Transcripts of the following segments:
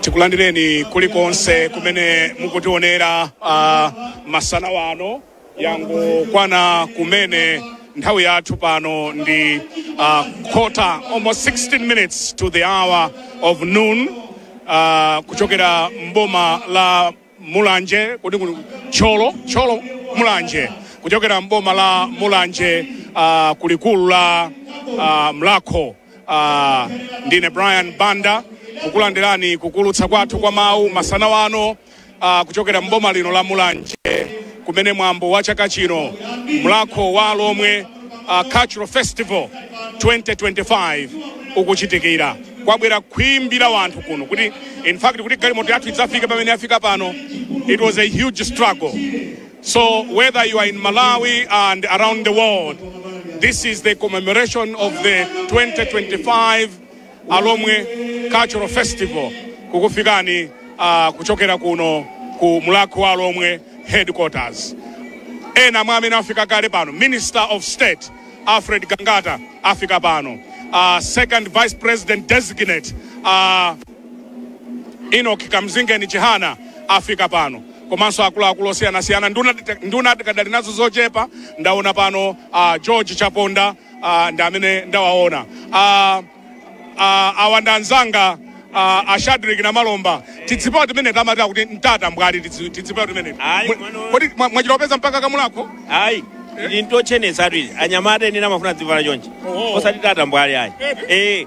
tikulandireni kulikonse kumene mukutionera uh, masana wano langokwana kumene nthawi yathu pano ndi uh, quarter almost 16 minutes to the hour of noon uh, kuchokera mboma la Mulanje kodi kuli Thyolo Thyolo Mulanje kuchokera mboma la Mulanje uh, kulikulu la uh, Mulhako uh, ndine Brian Banda kukulandirani kuwulutsa kwathu kwa mawu masana wano uh, kuchokera mboma lino la Mulanje kumene mwambo wa chaka chino Mulhako wa Alhomwe uh, cultural festival 2025 ukuchitikira kwabwera khwimbi la wanthu kuno kuti in fact kuti galimoto yathu idzafike pamene yafika pano it was a huge struggle so whether you are in malawi and around the world this is the commemoration of the 2025 alhomwe cultural festival kukufikani uh, kuchokera kuno ku mulhako wa alhomwe headquarters ena mwa amene afika kale pano minister of state alfred gangata afika pano uh, second vice president designate uh, enoch kamzingeni chihana afika pano komanso akuluakulu osiyanasiyana nduna nduna tikadali nazo zochepa ndaona pano uh, george chaponda ah, ndi amene ndawaona ah, ah, awa ndi anzanga ah, a shadrick namalomba tizipewa timene timati akuti mtata mbwali tizi- tizipewa timene Ayi, Mwe- mwana- kodi mwa- mwachita kupeza mpaka kamulhako ayi ndintochenesa tu izi anyamata ine ndimafuna dzivala chonchi Oh. osati tata mbwali ayi Eh. Eh,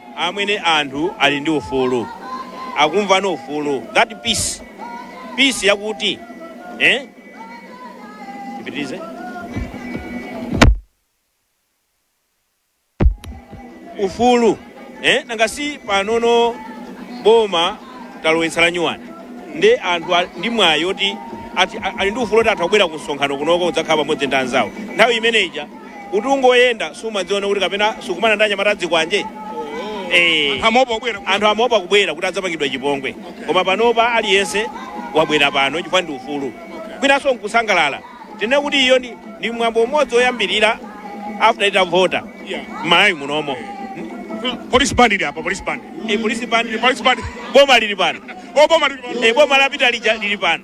amwene anthu ali ndi ufulu akumva ufulu that peace peace yakuti eh tipitirize ufulu eh nanga si panopa boma talowetsa la nyuwani ndi anthu a- ndi mwayi oti ati a- ali ndi ufulu oti atha kubwera ku msonkhano kunoko kudzakhala pamodzi ndi anzawo nthawi imeneja kuti ungoyenda sumadziona kuti kapena sukumana ndi anyamata azikwanje Eh. amaopa kubwera anthu amaopa kubwera kuti adzapangidwa chipongwe koma panopa aliyense wabwera pano chifukwa ndi ufulu kwinanso nkusangalala tinene kuti iyo ndi, ndi mwambo umodzi woyambirira after titavota Yeah. m'malawi munomo police band ili apa police band Eh, polisi pano police band boma lili pano oboma lili pano. Eh, boma lapita lija lili pano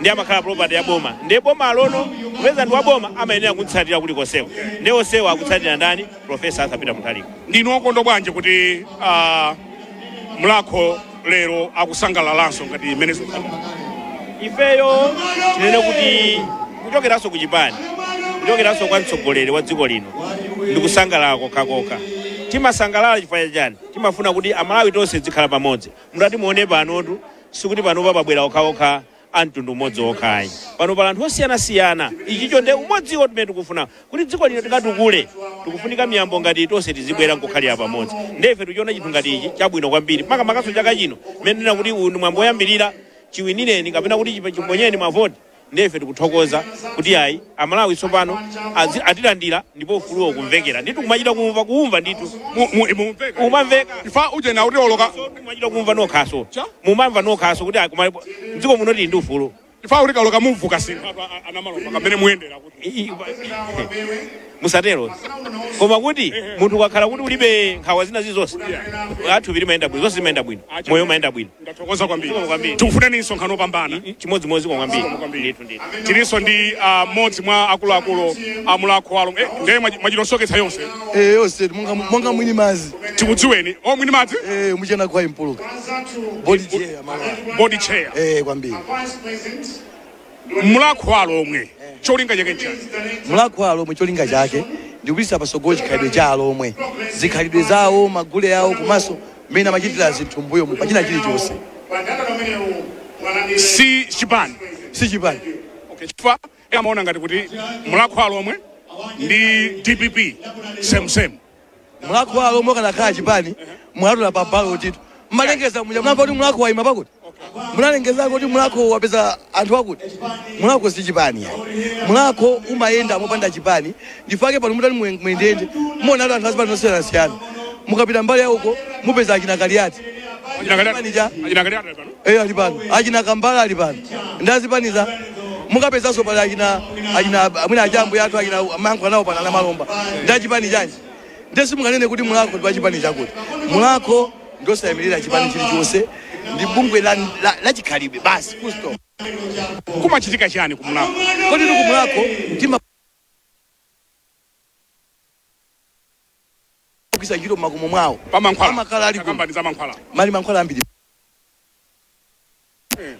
ndiye amakhala property ya boma ndiye boma alono kupeza ndi wa boma amayenera kumtsatira kuti konseko ndiye onsewo akutsatira ndani profesa arthur peter mutharika ndinu wokondwa bwanji kuti ah, mulakho lero akusangalalanso ngati zimenezo ifeyo tinene kuti kuchokeranso ku chipani kuchokeranso kwa mtsogoleri wa dziko lino ndi kusangalala kokhakokha timasangalala chifukwa chani timafuna kuti amalawi tonse tidzikhala pamodzi mutati muone panotu sikuti panopa pabwera okhaokha a mtundu umodzi wokha ayi pano pali anthu osiyanasiyana ichicho nde umodziwo timene tikufuna kuti dziko lino tikatukule tikufunika miyambo ngati iyi tonse tizibwera nkukhalira pamodzi nde ife tikuchiona chinthu ngati ichi chabwino kwambiri makamakanso chaka chino mmene tikunena kuti uyu ndi mwambo woyambirira chiwinireni kapena kuti chipa- chiponyeni mavoti Ndiye ife tikuthokoza kuti ayi Amalawi tsopano azi- atilandira ndipo ufuluwo ukumvekera ndithu kumachita kumva kuumva ndithu Mu- mu- mumveka. Umamveka. Ifa uje na kuti oloka. So, kumachita kumva nokhanso Cha? mumamva nokhanso kuti ayi, koma dziko muno tili ndi ufulu Ifa uli kaloka mumvuka sinu. Anthu a- a- Namalomba kamene muyendera kuti. I- i- musatero koma kuti munthu ukakhala kuti ulibe nkhawa zina zilizonse thupi limayenda bwino zonse zimayenda bwino moyo umayenda bwino Ndathokoza kwambiri. Zikomo kwambiri. Tikufuneni msonkhano wopambana. Chimodzimodzi kwa kwambiri. Zikomo kwambiri. Ndithu ndithu. Tilinso ndi ah, mmodzi mwa akuluakulu a mulakho wa alo. Eh, ndiye mwachi- mwachitosoketsa yonse. Eh, yonse monga monga mwini madzi. Tikudziweni. Oh, mwini madzi? Eh, muchena kwa Mpuluka. Board chair mama. Board chair. Eh, kwambiri. mulakho wa alomwe cholinga chake nchani mulakho wa alomwe cholinga chake ndikupititsa patsogolo chikhalidwe cha alomwe zikhalidwe zawo magule awo komanso mmene amachitira zinthu mbuyomu pa china chilichonse si chipani si chipani okay. chifukwa amaona ngati kuti mulakho wa alomwe ndi dpp same same mulakho wa alomwe ukanakhala chipani mwatuona pa balotitu mmalengeza muja munamva kuti mulakho waima pakuti munalengeza kuti mulakho wapeza anthu akuti mulakho si chipani yani mulakho umayenda mopanda chipani nchifake pano mutati muye- muyendeyende muonatu anthu azipani zosiyanasiyana mukapita mbali ya uko mupeza achina kaliyati Achina Kaliyati- Chipani cha- achina Kaliyati pano. Eya ali pano achina kambala ali pano ndi azipani za mukapezanso pali achina achina amwene aja ambuye athu achina mayankho anawo pano a namalomba ndi achipani chanji ndiye simunganene kuti mulakho ndi wachipani chakuti mulakho ndi wosayimirira chipani chilichonse ndi bungwe la, la, la chikhalidwe basi full stop kumachitika chani kumulakho kodi kumulakho tima ogwiritsa ntchito mmakomo mwawo pamankhwala amakhala ali ku- akambani za mankhwala muli mankhwala ambiri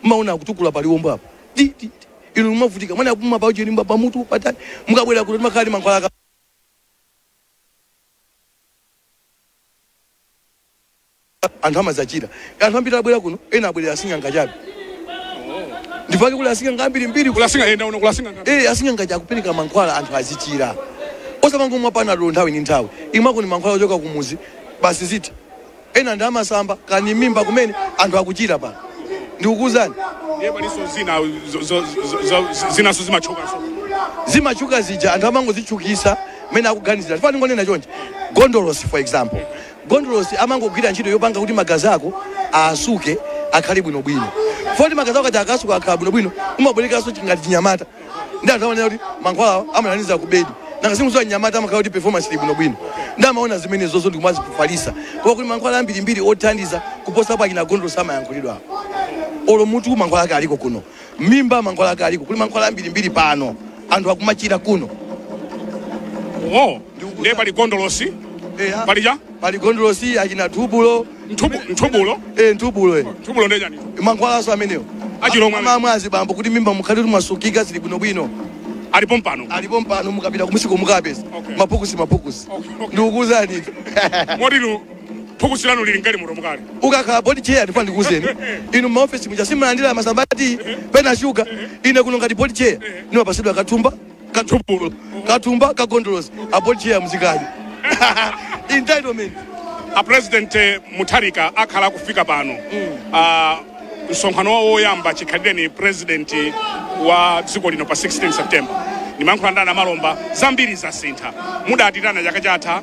mmaona akutukula paliwombo apo Ti, ti, ti. inu mumavutika mwana kupuma pauchelimba pamutu patani mukabwera kuno timakhala ndi mankhwala aka- anthu amadzachira. Anthu ambiri abwera kuno, ena abwerera asing'anga chabe. Ndipake kuli asing'anga ambirimbiri. Kuli asing'anga enda uno kuli asing'anga ambiri. Eh, asing'anga aja akupereka mankhwala anthu azichira. Osamangomwa panadolo nthawi ndi nthawi. Imwakoni mankhwala ochoka kumuzi basi zitha. Ena ndi amasamba kaya ni mimba kumene anthu akuchira pano. Ndikukuuzani. Ndiye palinso zina zo- zo- zo- zo- zinaso zimatchukanso. zimatchuka zija anthu amangozitchukisa mmene akuganizira chifukwa ningonena chonchi gondolosi for example Gondolosi amangogwira ntchito yopanga kuti magazi ako aasuke akhale bwinobwino. Chifukwa choti magazi ako aja akaasuka akakhala bwinobwino, umabwerekanso chi ngati chinyamata. Ndiye anthu amanena kuti mankhwalawa amathandiza kubedi. Nanga simukudziwa mnyamata amakhala kuti performance ili bwinobwino. Ndiye amaona zimenezozo ndi kumazifalitsa. Koma kuli mankhwala ambirimbiri othandiza kuposapo achina Gondolosi amayankhulidwawo. Olo mutu mankhwala ake aliko kuno. mimba mankhwala ake aliko kuli mankhwala ambirimbiri pano anthu akumachira kuno oh ndiye pali gondolosi Eya. pali cha pali gondolosi achina thubulo Nthubu- nthubulo eh, nthubulo eh. nthubulo ndiye chani mankhwalaso amenewo Achilomwe amene. amamwa azibambo kuti m'mimba mukhale kuti mwasukika zili bwinobwino alipo mpano alipo mpano mukapita kumusiko mukapeza Okay. maphukusi maphukusi Okay, okay. ndikukuuzani moti inu phukusi lanu lili mgalimotomu kale ukakhala board chair ndifuna ndikuuzeni inu maofesi muja simulandira masabati pena shuga ine kuno ngati board chair nimapasidwa kathumba kathubulo kathumba kagondolosi a board chair muzikaji entitlement a president eh, mutharika akhala akufika pano Ah, msonkhano wawo woyamba chikhalireni president wa dziko lino pa 16 september ndimankhula ndi a Namalomba zambiri zasintha mudatiitana chaka chatha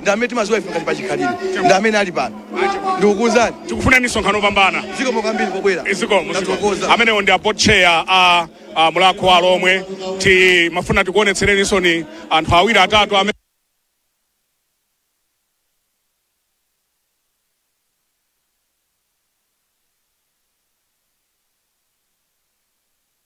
ndi amene timaziwa ife ngati pachikhalire ndi amene ali pano ndikukuuzani tikufunirani msonkhano opambana zikomo kwambiri pobwera zikomo zikomo amenewo ndi a board chair a a mulakho wa alomwe timafuna tikuonetsereninso ni anthu awiri atatu amene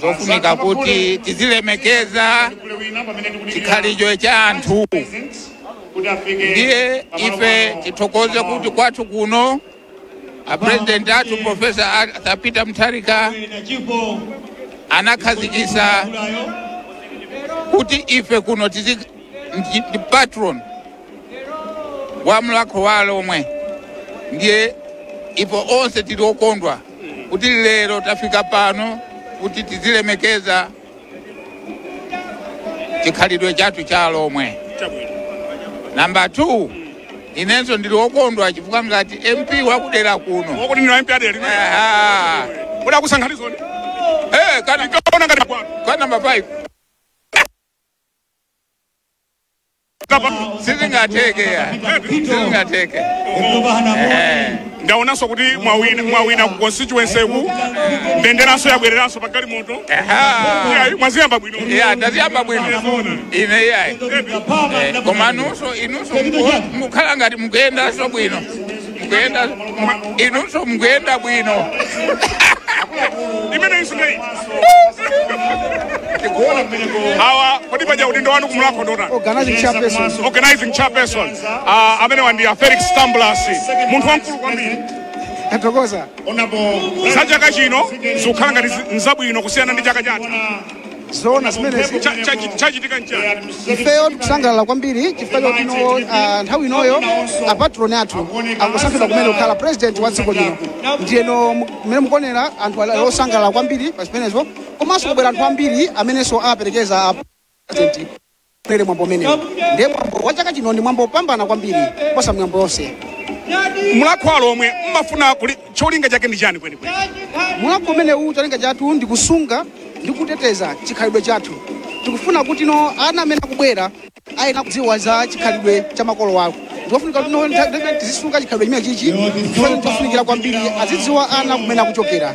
zofunika kuti tizilemekeza chikhalicho cha anthu ndiye ife tithokoze kuti kwathu kuno a president athu profesa arthur peter mutharika anakhazikisa kuti ife kuno tizi ndi- ndi patron wa mlakho wa alomwe ndiye ife onse tili okondwa kuti lero tafika pano kuti tizilemekeza chikhalidwe chathu cha alomwe namba 2 inenso ndili wokondwa chifukwa ngati mp wakudera kuno wakuti ndinu mp a dera limene Aha. kuti akusankhanizoni Eh, kana- ndikaona ngati kwanu kwa namba 5 sizingatheke ya sizingatheke Eh. ndaonanso kuti mwawina ku constituency ku mbenderanso yabwereranso pa galimoto Aha. Iyayi, mwaziyamba bwino ya ndaziyamba bwino ine iyayi Eh, koma nunso inunso mukhala ngati mukuyendanso bwino mukuyenda mwa- inunso mukuyenda bwino imene isunei tikuona kumeneko aha kodi paja udindo wanu kumulakho ndi otani organizing chairperson organizing chairperson ah, amenewa ndi a felix tambulasi munthu wamkulu kwambiri tathokoza onabo za chaka chino zikukhala ngati zi- nzabwino kusiyana ndi chaka chatha zoona zimenezi Cha- chachi- chachitika nchani ifeyo tikusangalala kwambiri chifukwa choti no ah, nthawi inoyo apatroni athu angosankhidwa kumene kukhala president wa dziko lino ndiyeno mu- mmene mukuonera anthu ali osangalala kwambiri pa zimenezo komanso kwabwera anthu ambiri amenenso aperekeza a president Pa mwambo umenewu ndiye mwambo wa chaka chino ndi mwambo wopambana kwambiri kuposa miyambo yonse. Mulakho wa Alomwe mmafuna kuli- cholinga chake ndi chiyani kwenikweni? Mulakho umenewu cholinga chathu ndi kusunga ndi kuteteza chikhalidwe chathu. Tikufuna kuti no ana amene akubwera ayenera kudziwa za chikhalidwe cha makolo awo. Nde kufunika kuti no nthawi tizisunga chikhalidwe chimene chichi chifukwa chofunikira kwambiri azidziwa ana kumene akuchokera.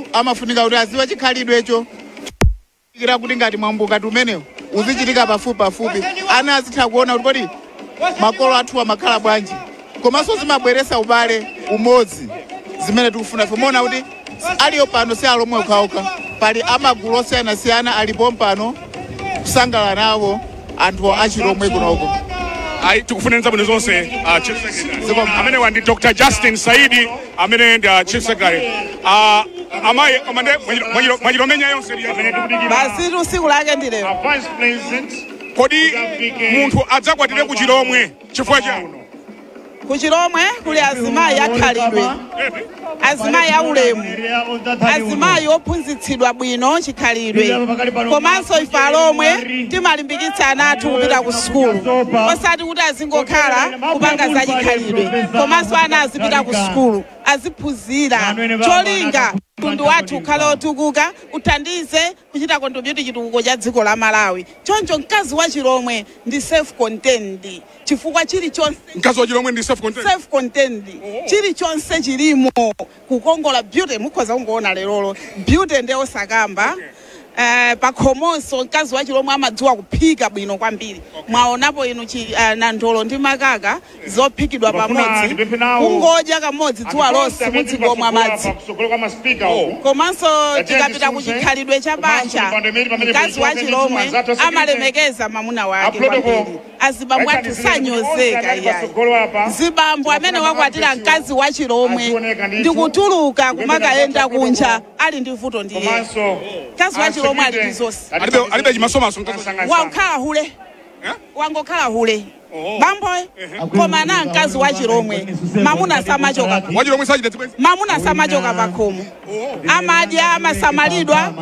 akufunika kuti aziwe chikhalidwecho nchofunikira kuti ngati mwambo ngati umenewu uzichitika pafupi pafupi ana azitha kuona kuti kodi makolo athu amakhala bwanji komanso zimabweresa ubale umodzi zimene tikufuna ife muona kuti aliyo pano si alomwe okhaokha pali amagulu osiyanasiyana ali pompano kusangalala nawo anthu achilomwe kunoko ayi tikufunirani zabwino zonse uh, chief secretary amenewa ndi dr justin saidi amene ndi uh, chief secretary uh, amayi amande mwachilomenya yonse basi usiku lake ndi lero kodi munthu adzakwatire ku chilomwe chifukwa cha ku chilomwe kuli azimayi akhalidwe azimayi aulemu azimayi ophunzitsidwa bwino chikhalidwe komanso ife alomwe timalimbikitsa ana athu kupita ku sukulu osati kuti azingokhala kupanga za chikhalidwe komanso ana azipita ku sukulu aziphunzira cholinga mtundu wathu ukhale otukuka uthandize kuchita contribute chitukuko cha dziko la Malawi. Choncho mkazi wa chilomwe ndi self contained chifukwa chilichonse. Mkazi wa chilomwe ndi self contained. Self contained oh. Chilichonse chilimo kukongola beauty mukhoza kungoona lerolo beauty nde osakamba okay. Eh, pakhomonso mkazi wa chilomwe amadziwa kuphika bwino kwambiri okay. Mwaonapo inu chi, uh, nandolo ndi makaka zophikidwa pamodzi kungodya kamodzi dzuwa lonse mudzingomwa madzi komanso tikapita ku chikhalidwe cha banja mkazi wa chilomwe amalemekeza mamuna wake kwambiri azibambo athu sanyozeka iyayi zibambo amene wakwatira mkazi wa chilomwe ndi kutuluka kumakayenda kunja ali ndi vuto ndi yeye mkazi wa chilomwe ali ndi zonse alibe alibe chimasomaso mkazi wa- wokhala hule wangokhala hule bamboyo koma mkazi wa chilomwe mamuna samachoka pa- wachilomwe sachita zibwenzi mamuna samachoka pakhomo amadya amasamalidwa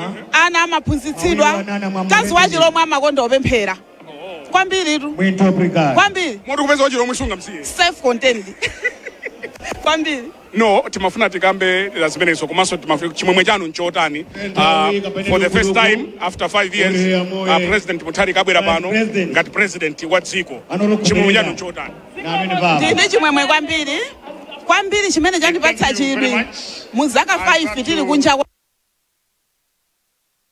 ana amaphunzitsidwa mkazi wa chilomwe amakonda kupemphera kwambiritu kwambiri moti kupeza wachilomwe sungamsiye self contained kwambiri no timafuna tikambe za zimenezo komanso timafuna chimwemwe chanu nchotani uh, for the first time after five years uh, president mutharika abwera pano ngati president wa dziko chimwemwe chanu nchotani ndili ndi chimwemwe kwambiri kwambiri chimene chandipatsa chidwi mu zaka 5 tili kunja kwa